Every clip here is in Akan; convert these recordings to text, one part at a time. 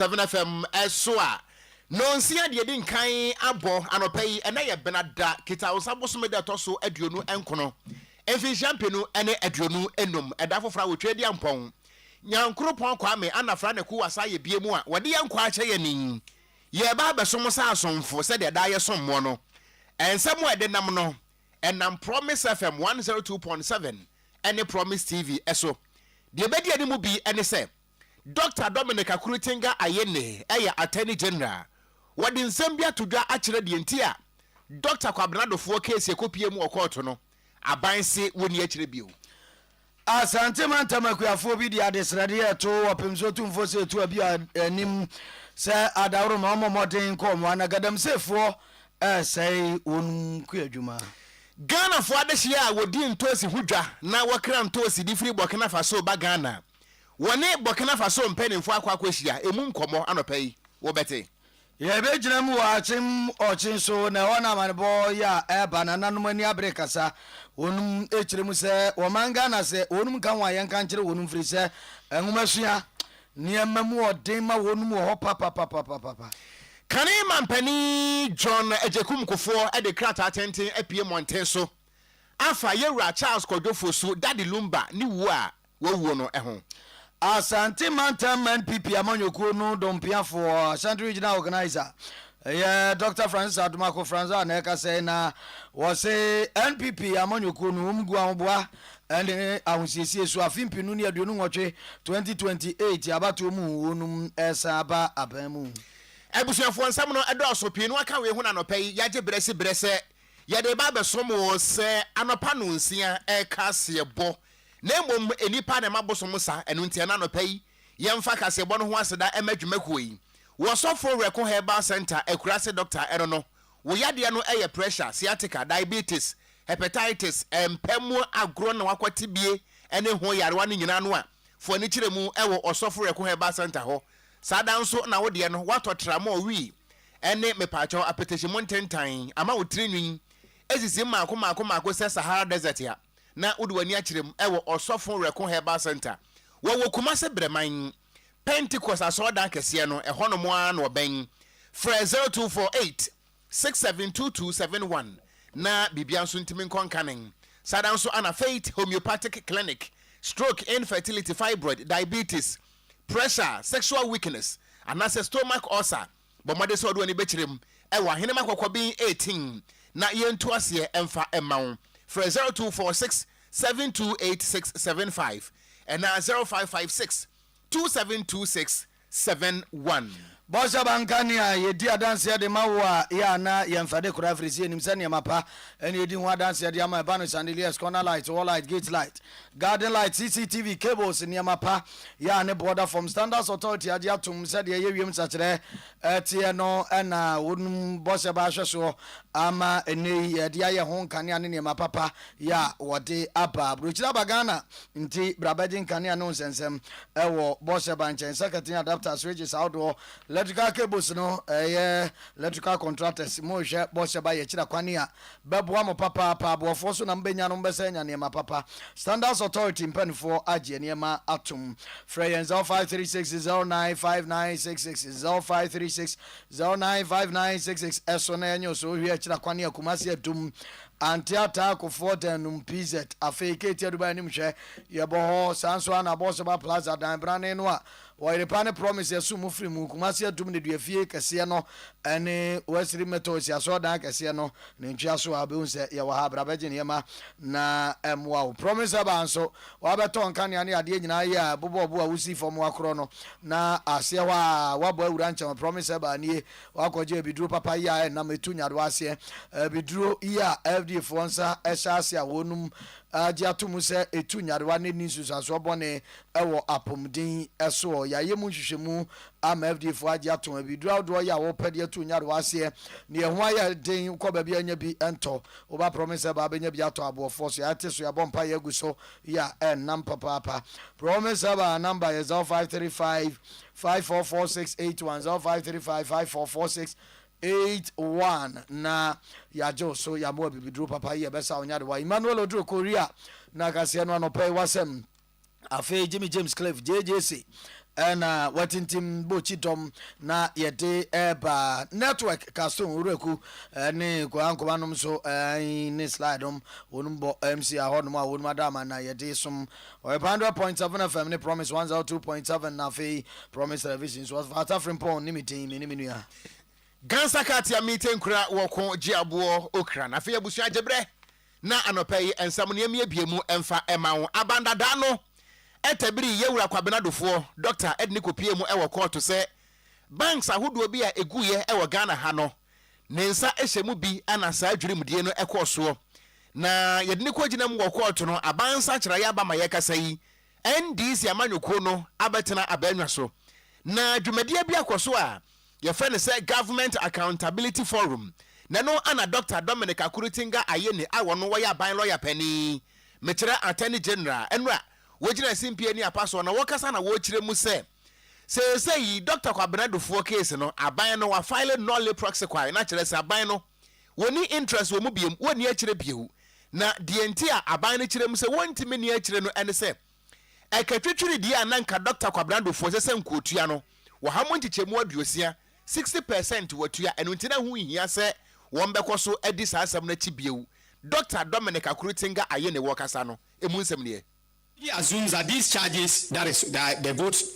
7FM so a, nnɔnsia deɛ ɛdi nkan abɔ anɔpa yi, ɛnɛ yɛ Benada Kitawosa bosome da ɛtɔ so aduonu nkono, mfinhyia mpenu ne aduonu nnum, ɛda foforɔ a wɔtwa adi ampɔn. Nyankoropɔn Kwame Anafra ne Kuwa saa yɛ bie mu a wɔde yɛn nkwa akyɛ yɛn yi, yɛreba abɛsom sɛ asomfo sɛdeɛ daa yɛ som moɔ no. Nsɛm a ɛde nam no, ɛnam Promise FM 102.7 ne Promise TV so. Deɛ ɛbɛdi anim bi ne sɛ, Dɔkta Dominic Akuritinga Ayene yɛ Attorney General. Wɔde nsɛm bi ato dwa akyerɛ deɛ nti a Dɔkta Kwabena Adofoɔ keesi a ɛkɔpue mu wɔ kɔɔto no, aban se wɔnni akyire bio. Asante Mantam Akuafoɔ bi de adesrɛdeɛ reto Ɔpemsoɔ Tumfoɔ sɛ Atuaa bi anim sɛ adaworoma ɔmmɔ mmɔden nkɔ wɔn ano, Galamseyfoɔ resɛe wɔn kuadwuma. Ghanafoɔ adehyeɛ a wɔdi ntoosi ho dwa na wɔkra ntoosi de firi Burkina Faso ba Ghana. wɔne Burkina Faso mpaninfoɔ akɔ akɔhyia ɛmu nkɔmmɔ anɔpa yi, wobɛte. Yɛbɛgyina mu wɔ akyem ɔkye so na ɛhɔ na amanebɔ yi a ɛreba nananom ani abere kasa wɔnom ɛkyerɛ mu sɛ wɔman Ghana sɛ wɔnom nka ho a yɛnka nkyerɛ wɔnom firi sɛ nwomasua nneɛma mu ɔden ma wɔnom wɔ hɔ papapapapapa. Kane mampanin John Agyekum Kufoɔ de krataa tenten apue mmɔnten so afa yɛwura Charles Kwadwo Fosu, Daddy Lumba, ne wuo a wawuo no ho. Asante Mantam NPP amanyɔkuo no dɔmpiafoɔ, Ashanti Regional Organiser, yɛ Dɔkta Francis Adomako Franz a na ɛkasa yi na wɔse NPP amanyɔkuo no wɔn gu ahoboa ne ahosiesie so afe mpenu ne aduonu nwɔtwe 2028 abatoɔ mu wɔnom resan aba aban mu. Abusuafoɔ nsɛm no dɔɔso, pii no aka wei ho na anɔpa yi yɛagye berɛ si berɛ sɛ yɛde reba abɛsom wo sɛ anɔpa nonsia reka aseɛ bɔ na mmom nnipa na ɛma bosom sa, ɛno nti ɛna anɔpa yi yɛmfa kaseɛbɔ no ho aseda ɛma dwumakuo yi. Wo ɔsɔfoɔ Werɛko Herbal Centre Akurase Doctor ɛno no, wo yadeɛ no ɛyɛ pressure, sciatica, diabetes, hepatitis, ɛmpa mu agorɔ na wakɔ tibie ɛne ho yarewa no nyinaa no a, fo ani kyerɛ mu ɛwɔ ɔsɔfo Werɛko Herbal Centre hɔ. Saa da nso na wo deɛ no watɔ tramɔɔ wii ɛne mepaakyɛw apɛtɛhyɛmu ntentan ama wo tiri nwin ɛsisi mmaako mmaako mmaako sɛ Sahara Desert a. na wode w'ani akyerɛ mu wɔ Ɔsɔfo Reko Herbal Centre. Wɔwɔ Kumase Brɛman, Pentecost Asɔredan kɛseɛ no hɔnom ara na wɔbɛn. Frɛ 0248 672271 na biribiara nso ntumi nkɔ nkanen. Saa ara nso Ana Faith Homeopathic Clinic, Stroke, Infertility, Fibroid, Diabetes, Pressure, Sexual Weakness, anaasɛ Stomach Ulcer, Bɔ mmɔden sɛ wode w'ani bɛkyerɛ mu wɔ Ahenemma Kɔkɔben 18 na yɛntu aseɛ mfa mma wo. Frɛ 0246 728675 anaa 0556 272671. Bɔ sɛ banka nea yɛdi adanseɛ de ma wo a yɛ a na yɛmfa de koraa ɛfiri sɛ yɛnim sɛ nneɛma pa ne yɛdi ho adanseɛ de ama ɛba no chandeliers, corner lights, wall lights, gate lights, garden lights, CCTV, cables, nneɛma pa. yɛ a ne borɔda fam Standards Authority agye atom sɛ deɛ ɛyɛ wiem nsakyeraɛ teɛ no na wɔnum bɔ sɛ bɛahwɛ soɔ ama ɛnnɛ yi yɛde ayɛ ho nkanea ne nneɛma papa yɛ a wɔde aba aburokyire aba Ghana nti bra bɛgye nkanea ne wo nsɛnsɛm wɔ bɔ sɛ ba nkyɛn circuit ne adapter switches ahodoɔ electrical cables no ɛyɛ electrical contractors mo rehwɛ bɔ sɛ ba yɛkyerɛ kwane a bɛboa mo papaapa. Aboɔfoɔ so na mobɛnya no mobɛsan anya nneɛma papa. Standards Authority mpaninfoɔ agye nneɛma atom. Frɛ yɛn 0536 095966 0536 095966 ɛso na yɛnye so hwɛ akyira kwane Akumase adum Ante Ataa Kofoɔ dan num PZ afei Ketia Dubai anim hwɛ yɛbɔ hɔ saa nso a na Abɔsɔba Plaza dan brane no a Wɔyere pa ne Promise Asum mo firi mu, Kumasi Atum Nneduafie kɛseɛ no ne Westri Methodist Asɔredan kɛseɛ no ne ntweaso a wobɛhu sɛ yɛwɔ ha. Bra bɛgye nneɛma na ɛmmoa wo. Promise Herbal nso, woabɛtɔ nkanea ne adeɛ nyinaa yɛ a ɛbobɔ bo a wosi fam woakorɔ no na aseɛ hɔ ara woabɔ awura nkyɛn. Promise Herbal nie, woakɔgye abiduro papa yi a ɛnam ɛtu nyadoa aseɛ. Abiduro yi a FDA foɔ nsa hyɛ ase a wɔnom agye ato mu sɛ ɛtu nyadoa na ɛnni nsunsuansoɔ bɔne Wɔ apomuden yi soɔ, yɛayɛ mu nhwehwɛmu ama FDA foɔ agye atom abiduro ahodoɔ yi a wɔpɛ de atu nyarewa aseɛ. Deɛ ɛho ayɛ den wokɔ baabi a ɛnya bi ntɔ, woba promise sɛ baa bɛnya bi atɔ aboɔfoɔ so yɛate so yɛabɔ mpaeɛ agu so yɛ a ɛnnam papaapa. Promise sɛ baa number yɛ 0535 544681 0535 544681 na yɛagye wo so yɛamoa bibiduro papa yi a ɛbɛsa wo nyarewa. Emmanuel Oduro Korea na kaseɛ no anɔpa yi wasɛm. Afei Jimmy James Cliff, JJC, na watintim bokyi dɔm na yɛde ɛreba network kaso nwuraku ne korankoma nom so ne slide nom wɔnom bɔ MC ahɔ nom a wɔnom ada ama na yɛde som ɔyɛpa 100.7 FM ne Promise 102.7 na afei Promise Television so ɔfa atafere mpɔn ne me din me ne me nua Gansa Katia Mite Nkura Wɔko Gye Aboɔ Okra na afei abusua gyebrɛ Na anɔpa yi nsɛm no yɛmmiebie mu mfa mma wo. Abandada no tabirii Yɛwura Kwabena Dufoɔ, Dɔkta, de no kɔpuee mu wɔ kɔɔto sɛ banks ahodoɔ bi a ɛguiɛ wɔ Ghana ha no ne nsa hyɛ mu bi na saa dwirimdie no kɔɔ soɔ na yɛde no kɔgyina mu wɔ kɔɔto no aban nsakyeraeɛ aba ma yɛkasa yi NDC amanyɔkuo no abɛtena abaannwa so na dwumadie bi akɔ so a Yɛfrɛ no sɛ Government Accountability Forum, na ɛno na Dɔkta Dominic Akuritinga Ayeni a ɔno ɔyɛ aban lɔya panin, mekyerɛ Attorney General, ɛno a wɔgyina simpie ne apa soɔ na wɔkasa na wɔkyerɛ mu sɛ seesei yi Dɔkta Kwabena Adufoɔ case no aban no wa file nolle prosequi na kyerɛ sɛ aban no wɔnni interest wɔ mu biom, wɔnni akyire bio. Na deɛ nti a aban no kyerɛ mu sɛ wɔntumi nni akyire no ɛne sɛ, Ɛka twitwiridie a na nka Dɔkta Kwabena Duffuor ɛsɛ sɛ nka ɔtua no, wɔha mu nkyekyɛmu aduosia, sixty per cent, watua, ɛno nti na ɛho nhia sɛ wɔbɛkɔ so adi saa asɛm no akyi bio. Dɔkta Dominic Akuritinga Ayine wɔ kasa no mu nsɛm nie. He assumes that these charges that is that the votes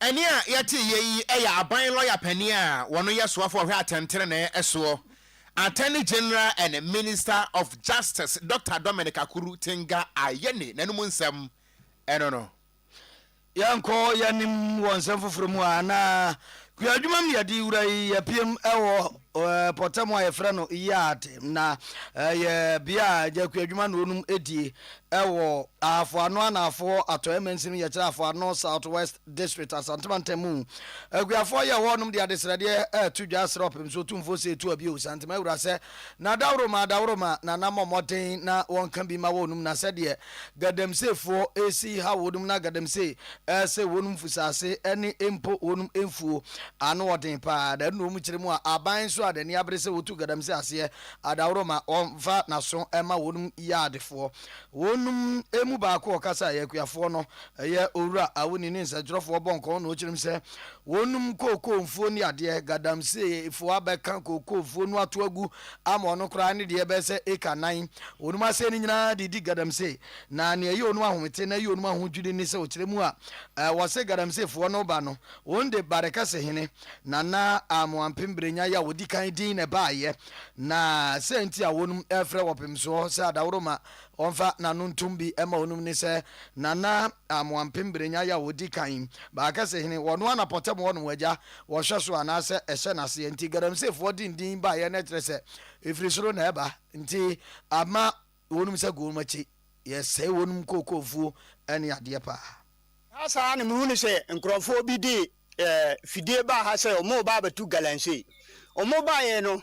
Ɛnne a yɛteeɛ yi yɛ aban lɔya panin a ɔno yɛ soafo a ɔhwɛ atɛntenenee soɔ, Attorney General and Minister of Justice Doctor Dominic Akuru Tenga Ayeni n'anom nsɛm no no. Yɛnkɔ yɛn anim wɔ nsɛm foforɔ mu a, na kuadwuma mu yɛde wura yi yɛpiem wɔ Ɔpɔtam a yɛfrɛ no yard na ɛyɛ bea a agyakuo adwuma na wɔnom die wɔ Ahafo Ano Anaafoɔ hɔ Atɔeɛ Mansin mu yɛkyerɛ Ahafo Ano South West District Asante Mantam mu Akuafoɔ a yɛ wɔ hɔnom de adesrɛdeɛ reto dwa srɛ ɔpemso otumfoɔ sɛ ɛtu abio Santima Wura sɛ na daworo ma daworo ma na na mmɔ mmɔden na wɔnka bi ma wɔnom na sɛdeɛ Gadamseefoɔ resi ha wɔnom na Gadamsee rese wɔnom fusaase ne mpo wɔnom mfuo. Ano ɔden paa na ɛno na wɔn kyerɛ mu a aban nso a n'ani abere sɛ wɔtu Gadamsee aseɛ Adaworoma ɔmfa n'aso mma wɔnom yɛ adefoɔ. Wɔnom mu baako a ɔkasa yɛ Akuafoɔ no yɛ Owura Awuni ne nsɛntwerɛfoɔ bɔ nkɔmɔ na ɔkyerɛ mu sɛ wɔnom kookoo mfuo ne adeɛ Gadamseefoɔ abɛka kookoo mfuo no ato agu ama ɔno koraa ne deɛ ɛbɛyɛ sɛ eka nnan. Wɔnom aseɛ no nyinaa de di Galamse. Na nea ɛyɛ wɔnom ahomete na ɛyɛ wɔnom ahodwiri ne sɛ ɔkyerɛ mu a wɔse Galamsefoɔ no reba no, wɔn de Barekɛse hene, Nana Amoah Mpemberenya, yɛ a ɔdi kan din na ɛbaeɛ. Na sɛ nti a wɔnom refrɛ wɔ Pemsoɔ sɛ Adaworoma ɔmfa n'ano ntom bi mma wɔnom ne sɛ Nana Amoah Mpemberenya yɛ a ɔdi kan, Barekɛse hene, wɔ Noana Pɔtam hɔnom, agya wɔhwɛ so anaasɛ ɛhyɛ n'aseɛ nti Galamseyfoɔ de ndin baeɛ no kyerɛ sɛ ɛfiri soro na ɛba nti ama wɔnom sɛ gonom akyi yɛsɛe wɔnom kookoomfuo ne adeɛ paa. Saa saa na mehunu sɛ nkorɔfoɔ bi de fidie baa ha sɛ wɔn reba abɛto Galamsey. Wɔn baeɛ no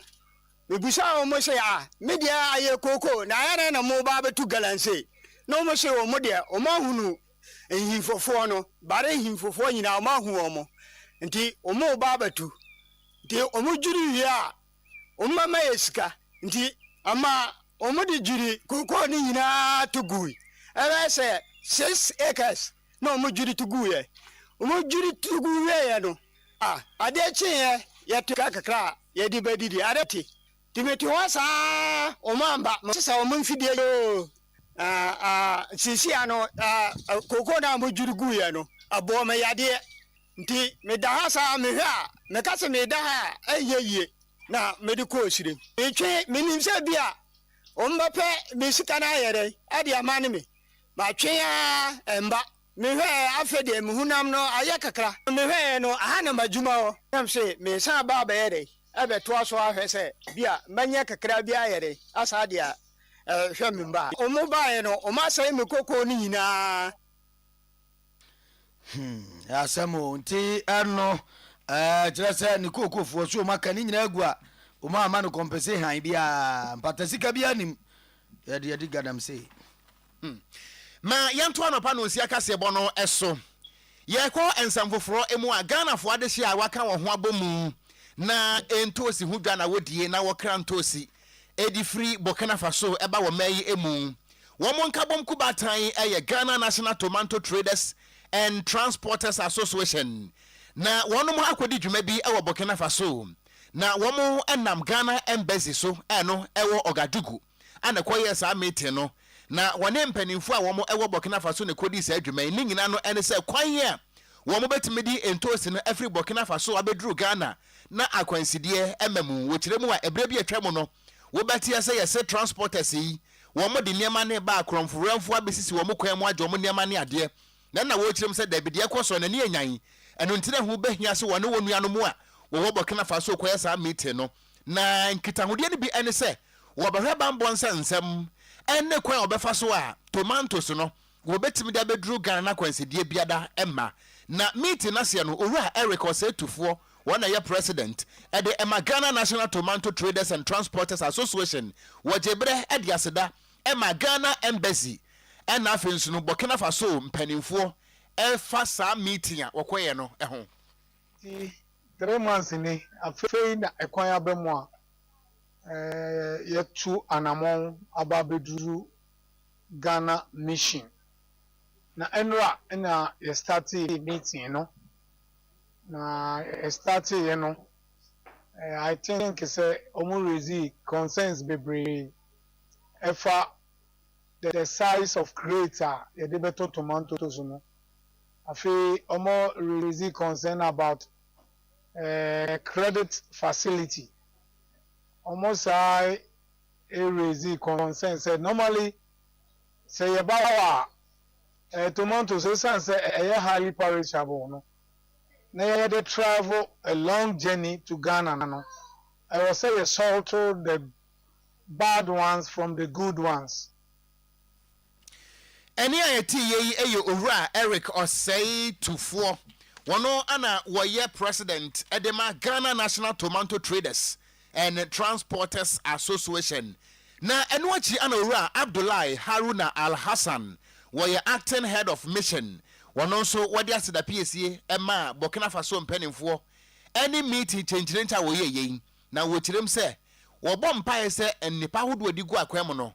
mebusaa wɔn sɛ ah me deɛ ayɛ kookoo na ayɛ dɛn na mo reba abɛto Galamsey na wɔn se wɔn deɛ wɔn ahunu Nhimfofoɔ no bare nhimfofoɔ nyinaa, wɔahu wɔn, nti wɔreba abɛto. Nti wɔdwiri wie a, wɔbɛma yɛ sika. Nti ama wɔde dwiri kookoo no nyinaa to gui. Ɛbɛyɛ sɛ six acres na wɔdwiri to guiɛ. Wɔdwiri to gu wieeɛ no, ah, adeɛ kyeeɛ, yɛte kakra a yɛde bɛdidi. Adeɛ te, Ti me ti hɔ saa ɔmo amba mo sesa ɔmo mfidie yi oo ah ah sisi ano ah kokoo no a mo dwiri guu yɛ no ɛbɔɔ me yadeɛ nti me da ha saa me hwɛ a me ka se me da ha a ɛnyɛ yie na me de kɔ ɔsire me twe me nim sɛ bi a ɔmo bɛ pɛ me sika no ayɛ dɛn ɛde ama ne me ma twe aa ɛmba. Mehwɛɛ, afei deɛ me honam no ayɛ kakra. Mehwɛeɛ no, aha na m'adwuma wɔ. Na mese, meresan aba abɛyɛ dɛn? Abɛtoa so ahwɛ sɛ ebia mɛnya kakra bi ayɛ dɛn, asan de ahwɛ me mma. Wɔbaeɛ no, wɔasɛe me kokoo no nyinaa. Hmm, asɛm o. Nti ɛno, ɛɛ, kyerɛ sɛ ne kookofoɔ so wɔaka ne nyinaa agu a, wɔamma no kɔmpɛse hann biara, mpatasika biara nim. Yɛde yɛde galamsey. Hmm. Ma yɛnto anɔpa nonsia kaseɛbɔ no so. Yɛkɔ nsɛm foforɔ mu a, Ghanafoɔ adehyeɛ a wɔaka wɔn ho abɔ mu na ntoosi ho dwa na wɔdie na wɔkra ntoosi de firi Burkina Faso ba wɔ mmaa yi mu. Wɔn nkabom kubaatan yɛ Ghana National Tomanto Traders and Transporters Association. Na wɔn akɔdi dwuma bi wɔ Burkina Faso na wɔnam Ghana Embassy so a ɛno ɛwɔ Ouagadougou. a na ɛkɔyɛɛ saa meeting no, na wɔne mpanimfoɔ a wɔn wɔ Burkina Faso na ɛkɔdii saa dwuma yi. Ne nyinaa no ne sɛ kwan a wɔn bɛtumi de ntoosi no afiri Burkina Faso abɛduru Ghana na akwansideɛ ɛma mu. Wɔkyerɛ mu a, ɛberɛ bi a atwa mu no, wobɛteɛ sɛ yɛse transporters yi, wɔn de nneɛma no reba a, korɔmfowerɛmfoɔ abɛsisi wɔn kwan mu agye wɔn nneɛma ne adeɛ. Na na wɔrekyerɛ mu sɛ daabi, deɛ ɛkɔ soɔ no, ani anyan. Ɛno nti na ɛho bɛhia sɛ wɔne wɔn nuanom a wɔwɔ Burkina Faso rekɔyɛ saa meeting no. Na nkitahodeɛ no bi ne sɛ wɔbɛhwɛ bammɔ nsa nsɛm ne kwan a wɔbɛfa so a tomantos no wɔbɛtumi de abɛduru Ghana no akwansideɛ biada mma. Na meeting no aseɛ no, Owura Eric Osei-Tufoɔ, wɔn na ɛyɛ President de ma Ghana National Tomanto Traders and Transporters Association, wɔgyee berɛ de aseda maa Ghana Embassy na afei nso no Burkina Faso mpanimfoɔ fa saa meeting a wɔkɔeɛ no ho. Nti three months ni, afei na ɛkwan aba mu a yɛatu anamɔn aba abɛduru Ghana mission. Na ɛnora na yɛ startee meeting no, na yɛ starteeɛ no, I think sɛ wɔn raise concerns bebree ɛfa the size of crate a yɛde bɛtɔ tomatoes no. Afei ɔmo release concern about credit facility, ɔmo san raise concern sɛ normally sɛ yɛba hɔ a tomatoes esiane sɛ ɛyɛ highly perishable no na yɛde travel a long journey to Ghana no ɛwɔ sɛ yɛ salt the bad ones from the good ones. Ɛnne a ɛteeɛ yi yɛ Owura Eric Osei Tufoɔ, wɔno na wɔyɛ President de ma Ghana National Tomanto Traders and Transporters Association na ɛno akyi na Owura Abdullahi Haruna Alhassan, wɔyɛ Acting Head of Mission, wɔno nso wɔde asedapiesie maa Burkina Faso mpaninfoɔ ne meeting kyenkyerenkyɛ a wɔyɛeɛ yi na wɔkyerɛm sɛ wɔbɔ mpaeɛ sɛ nnepa ahodoɔ a ɛde gu akwan mu no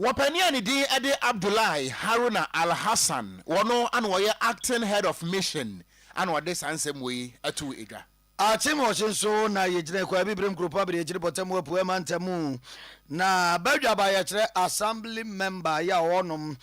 Wɔpanin a ne din de Abdullahi Haruna Al-Hassan, ɔno na ɔyɛ Acting Head of Mission na ɔde saa nsɛm wei too edwa. Akyemɔkye nso na yɛgyina Akwaa Abibirem Nkuropɔn Abadiakyiri Bɔtamu Apueɛ Mantamu na badwaba yɛkyerɛ Assembly Member yɛ a wɔnom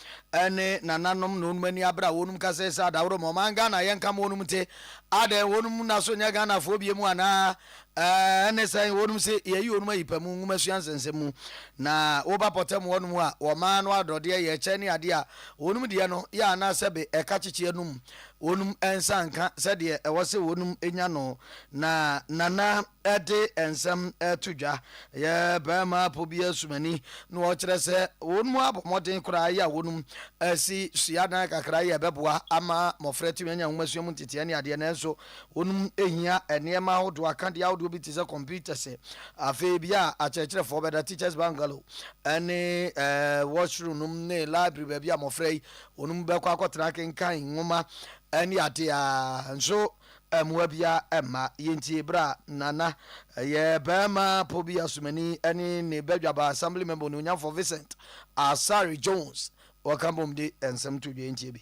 ne nananom na wɔnom ani abre a wɔnom kasɛɛ sɛ adaworo ma ɔman Ghana yɛnka ma wɔnom nte adɛn wɔnom naso nyɛ Ghanafoɔ biemu anaa Ɛne sɛn? Wɔnom se Yɛayi wɔnom ayi pa mu nwomasua nsɛnsɛm mu, na woba pɔtam hɔnom a, wɔmaa no adɔdeɛ yɛ kyɛ ne adeɛ a wɔnom deɛ no yɛ ana sɛbe ɛka kyekyeɛ nom wɔnom nsa nka sɛdeɛ ɛwɔ se wɔnom nya no. Na Nana de nsɛm to dwa, yɛ barima apo bi asumani, na ɔkyerɛ sɛ wɔnom abɔ mmɔden koraa yɛ a wɔnom asi suadan kakra yɛ ɛbɛboa ama mmɔfra atumi anya nwomasua mu nteteɛ ne adeɛ, nanso Wonom hia nneɛma ahodoɔ, akadeɛ ahodoɔ bi te sɛ computers. Afei bia a akyerɛkyerɛfoɔ bɛda, teachers bungalow, ɛne ɛɛ washroom nom ne library baabi a mmɔfra yi wɔnom bɛkɔ akɔtena akenkan nwoma ɛne adeɛ a nso mmoa bia ɛmma. Yɛntie berɛ a Nana ɛyɛ bɛrima po bi asomani ɛne ne badwaba assembly member onuonyamfoɔ Vincent Asare Jones wɔka bom de nsɛm to dwa yɛntie bi.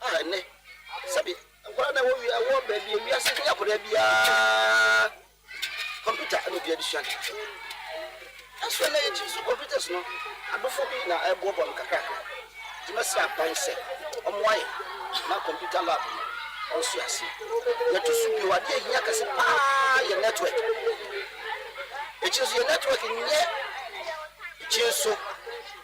A Ɛnnɛ, sɛbe nkwadaa na ɛwɔ wia wɔ baabi a wiase ne akwadaa biara kɔmputa na obiara de sua ade hwehwɛ. Nanso ɛnnɛ yɛn tiri so computers no adofo bi na ɛreboaboa no kakrakra. Nti mɛsrɛ aban sɛ wɔmmoa yɛn ma computer lab no nso aseɛ. Deɛ ɛto so bio, adeɛ a ɛhia kɛse paa yɛ network. Akyiri nso yɛn network nyɛ kyinso.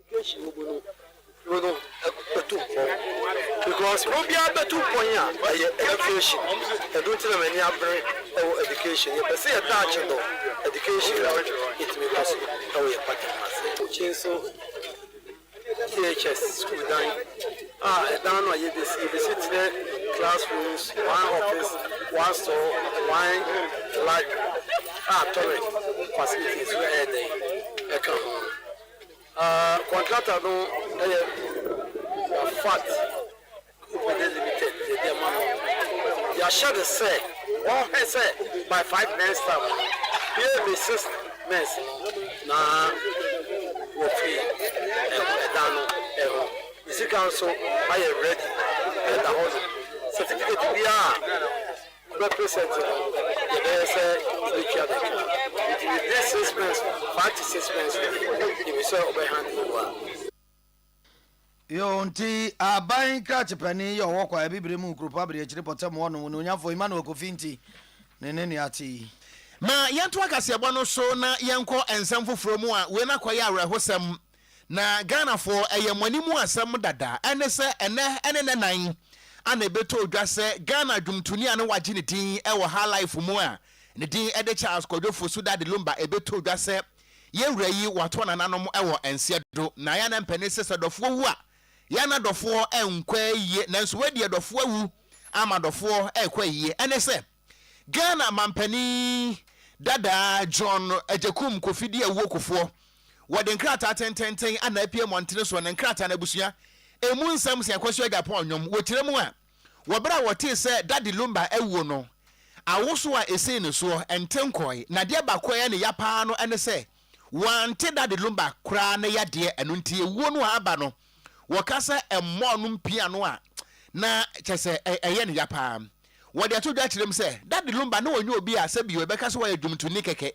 Education mu no kuro no bɛtu mpɔn because kuro biara bɛtu mpɔn a ɛyɛ education ɛno nti na m'ani abere ɛwɔ education yɛpɛ sɛ yɛ touch no education na yɛtumi kɔ so ɛwɔ yɛ party no ase. Bokyi nso THS sukuu dan a ɛdan no a yɛbɛsi yɛbɛsi thrɛ class rooms one office one store one library a toilet facilities nso ɛyɛ dɛn ɛka ho. Ah, contractor no ɛyɛ Rafat Company Limited yɛde ɛma no. Yɛahyɛ no sɛ ɔnhwɛ sɛ my five men staff no bue me six men no na wɔfiri ɛdan no ɛho. Ne sika nso ayɛ ready ɛda hɔ nom. Certificate biara Wobɛ present no yɛbɛyɛ sɛ wobetua bɛdwuma nti within six months no five to six months no yɛnim sɛ wobɛ hand over. Yoo nti aban krakyepani yɛ ɔwɔ kwa abibire mu kuropɔn abadiakyiri pɔtam hɔ nom onuonyamfoɔ Emmanuel Kofi nti ne ne nea ate yi. Ma yɛntoa kaseɛbɔ no so na yɛnkɔ nsɛm foforɔ mu a wei no akɔyɛ awerɛhosɛm Na Ghanafoɔ, ɛyɛ mo anim asɛm dada, ɛne sɛ ɛnnɛ ne nnɛ nan a na ɛbɛtɔ odwa sɛ Ghana dwomtoni a na wɔagye ne din wɔ Highlife mu a ne din de Charles Kwadwo Fosu Daddy Lumba ɛbɛtɔ odwa sɛ yɛn wura yi wɔato nananom wɔ nseɛ do. Na yɛn anampa ni sɛ sɛ dɔfoɔ wu a yɛn na dɔfoɔ nkɔ ayie nanso wei deɛ dɔfoɔ awu ama dɔfoɔ rekɔ ayie ɛne sɛ Ghana mampanin dadaa John Agyekum Kofi di awuo kofoɔ. Wɔde nkrataa tententen ana apue mmɔntene soɔ ne nkrataa no abusua ɛmu nsɛm sɛ Kwasu Agyapong nnwom. Wɔkyerɛ mu a, wɔ berɛ a wɔtee sɛ Daddy Lumba awuo no, awoso a ɛsii ne soɔ nte nkɔɔe. Na adeɛ baako a ɛyɛ ne ya paa no ne sɛ wɔante Daddy Lumba koraa ne yadeɛ. Ɛno nti awuo no a aba no wɔka sɛ ɛmmɔɔ no mpiano a na kyerɛ sɛ ɛyɛ ne ya paa. Wɔde to dwa kyerɛ mu sɛ, Daddy Lumba na ɔnyɛ obi a sɛbi yɛbɛka sɛ ɔyɛ dwomtoni kɛkɛ,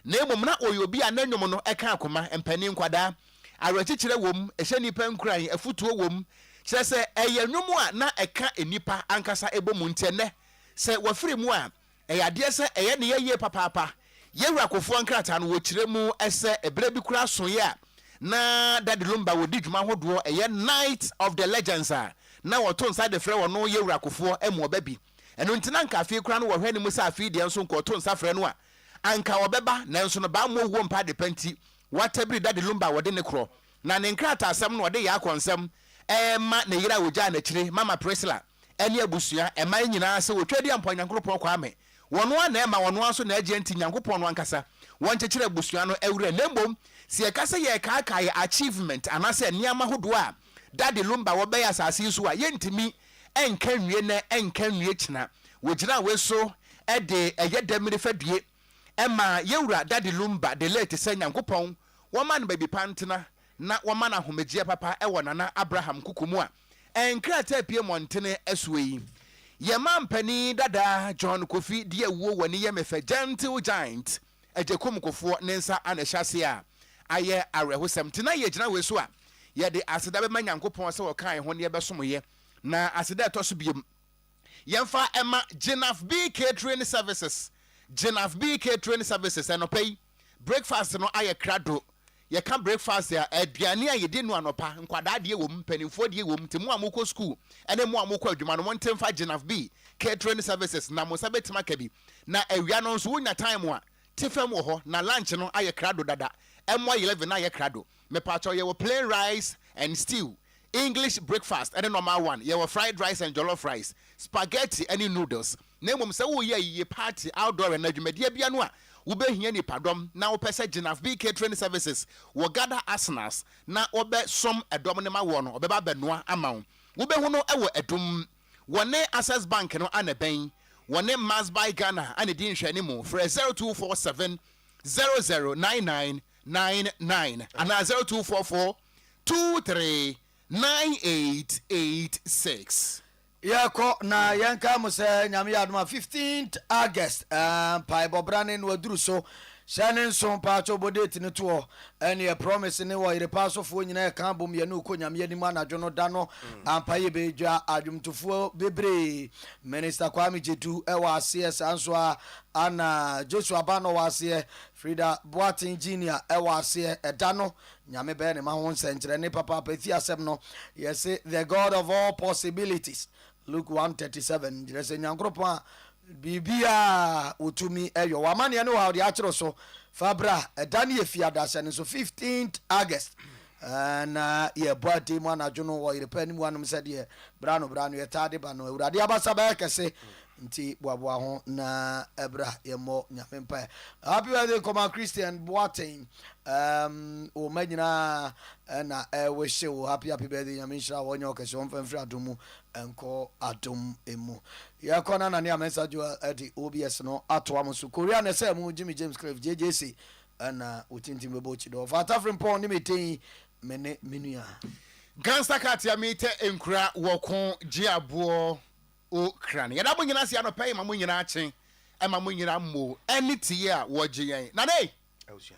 na mmom na ɔyɛ obi a ne nnwom no ka akoma, mpanin, nkwadaa. Awerɛkyekyerɛ wom, ɛhyɛ nnipa nkuran, afotuo wom, kyerɛ sɛ, ɛyɛ nnwom a na ɛka nnipa ankasa bɔ mu. Nti ɛnnɛ, sɛ wɔfiri mu a, ɛyɛ adeɛ sɛ ɛyɛ ne yɛ yie papaapa. Yewura Kufuor nkrataa no, wɔkyerɛ mu sɛ ɛberɛ bi koraa soeɛ a na Daddy Lumba wɔdi dwuma ahodoɔ ɛyɛ Night of the Legends a na wɔto nsa de frɛ wɔno Yewura Kufuor mu ɔba bi. Ɛno nti na anka afei koraa no wɔhwɛ ne mu sɛ afei deɛ nso nka ɔto nsa frɛ no a anka ɔbɛba nanso no bammɔ owuo mpa adepa nti wɔatabiri Daddy Lumba wɔde ne korɔ na ne nkrataasɛm no ɔde yɛ akɔnsɛm ɛrema ne yere a ɔgyaa no akyire Mama Priscilla. ɛne abusua, ɛman nyinaa sɛ wɔtwa di ampɔn Nyankoropɔn Kwame. Wɔn ara na ɛma, wɔn ara nso na ɛgye nti Nyankopɔn no ankasa, wɔn kyekyere abusua no awura. Na mmom sɛ yɛka sɛ yɛrekaakae yɛ achievement anaasɛ nneɛma hodoɔ a Daddy Lumba wɔ bɛyɛ asase yi so a, yɛntumi nka nwie nnɛ, nka nwie kyena. Wɔgyinaa wei so de ɛyɛ dɛm nifadue ma yɛwura Daddy Lumba, the late, sɛ Nyankopɔn wɔma no baabi pa ntena na wɔma no ahomegyeɛ papa wɔ Nana Abraham Kuku mu a nkrataa pue mmɔntene ɛsoɔ yi. Yɛn mampanin dada John Kofi de awuo wɔ ne yam fɛ Gentle Giant Agyekum Kufoɔ ne nsa na ɛhyɛ aseɛ a ayɛ awerɛhosɛm nti na yɛgyina wei so a yɛde aseda bɛma Nyankopɔn sɛ ɔkaa yɛn ho na yɛbɛsom yɛ na aseda a ɛtɔ so biom yɛmfa ɛma Gyinafb Catering Services Gyinafb Catering Services anɔpa yi. Breakfast no ayɛ krado. Yɛka breakfast a, aduane a yɛdi no anɔpa. Nkwadaa deɛ wɔ mu, mpanimfoɔ deɛ wɔ mu. Nti mo a mokɔ sukuu ne mo a mokɔ adwuma no, monte mfa Gynav bi, Catering Services, na mo nsa bɛtumi aka bi. Na awia no nso, wonya time a, te fam wɔ hɔ. Na lunch no ayɛ krado dada. Ɛmmɔ eleven na ayɛ krado. Mepaakyɛw, yɛwɔ plain rice and stew, English breakfast ne normal one. Yɛwɔ fried rice and jollof rice, spaghetti ne noodles. na mmom sɛ woreyɛ ayiyie, party, outdoor anaa dwumadie bia no a wobɛhia nnipadɔm na wopɛ sɛ Genaf Bee Catering Services wɔ gather asenas na wɔbɛ som ɛdɔm no ma woɔ no wɔbɛba abɛnoa ama wo. Wobɛhu no wɔ Adum. Wɔne Access Bank no a na ɛbɛn wɔne Mars by Ghana a na ɛdi nhwɛane mu. Frɛ 0247 009999 anaa 0244 23 9886. Yɛkɔ na yɛnkae mo sɛ Nyame yɛ adom a 15th August eh, mpaebɔ bra ne no aduru so Hyɛ ne nso mpaatwɔ bɔ date no to hɔ Ɛneɛ promise ne wɔ yere paa so foɔ nyina ɛka abom yɛne wo kɔ Nyame anim anadwo no da no ampa yɛbɛ dwa adwomtofoɔ bebree Minister Kwame Jedu ɛwɔ aseɛ saa nso a ana Joshua Bano wɔ aseɛ Frida Boateng Junior ɛwɔ aseɛ ɛda no Nyame bɛyɛ ne mma ho nsɛnkyerɛnne papaapa. Efi asɛm no, yɛse the God of all possibilities, Luke one thirty seven, kyerɛ sɛ Nyankoropɔn a biribiara Otumi yɔ. W'amanneɛ ne wo haw deɛ akyere so, fa bra, ɛda ne yɛfi adaseɛ no so, fifteenth August, na yɛbɔ adee mu anadwo no wɔ Yerepɛ anim hɔ nom sɛdeɛ berɛ ano berɛ ano yɛtaa de ba no. Awurade abasa bɛyɛ kɛse Ntsi boaboa ho na bra yɛmbɔ Nyame mpae. Happy birthday Koma Christian Boateng um wo mma nyinaa na ɛwehye wo happy happy birthday Nyame nhyira wo ɔnyɛ wo kɛse ɔmfa mfiri adom mu nkɔ adom mu yɛkɔ na Nania Mensah Joel ɛde OBS no atoa mo so Korea na ɛsɛ mu Jimmy James Cliff JJC ɛna wo tintin bɛbɔ kyi dɔ ɔfa atafere mpɔn ne me tɛn me ne me nua Gangsta cat ya meetɛ nkura wɔ ko gye aboɔ. O kran, yɛda mo nyinaa ase anɔpa yi ma mo nyinaa kye, ɛma mo nyinaa mmoo ɛne tiyɛ a wɔgye yɛn. Nana ei! Abusua.